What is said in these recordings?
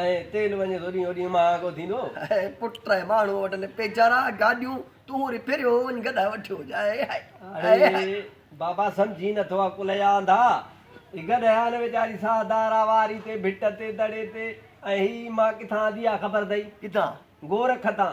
۽ تيل وڃي ٿوڏينهن اوڏينهن مهانگو ٿيندو. اي پٽ اي ماڻهو وٽل پيچارا گاڏيون تون وري ڦريو وڃ گڏا وٺيو وڃ اي هائي اڙي اي هائي. بابا سمجهين نٿو عقل جا انڌا هي گڏهه نه ويچاري ساهه دارا واري تي ڀٽ تي دڙي تي ۽ هي مان ڪٿان آندي آ خبر اٿئي؟ ڪٿان؟ گورک تان.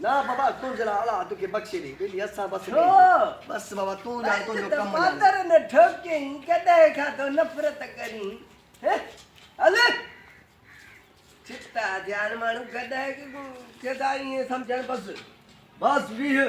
نه بابا تون ذرا اولاد کي بخشي ڏي ٻيلي اسان بس ڏي بس بابا تون ڄاڻ تنهنجو ڪم ڄاڻ ته مادر نه ٺوڪين ڪڏهن کان تو نفرت ڪرين هل ڇتا ٿيا آهن ماڻهو ڪڏهن کي ٿا ائين سمجهن بس بس ويهه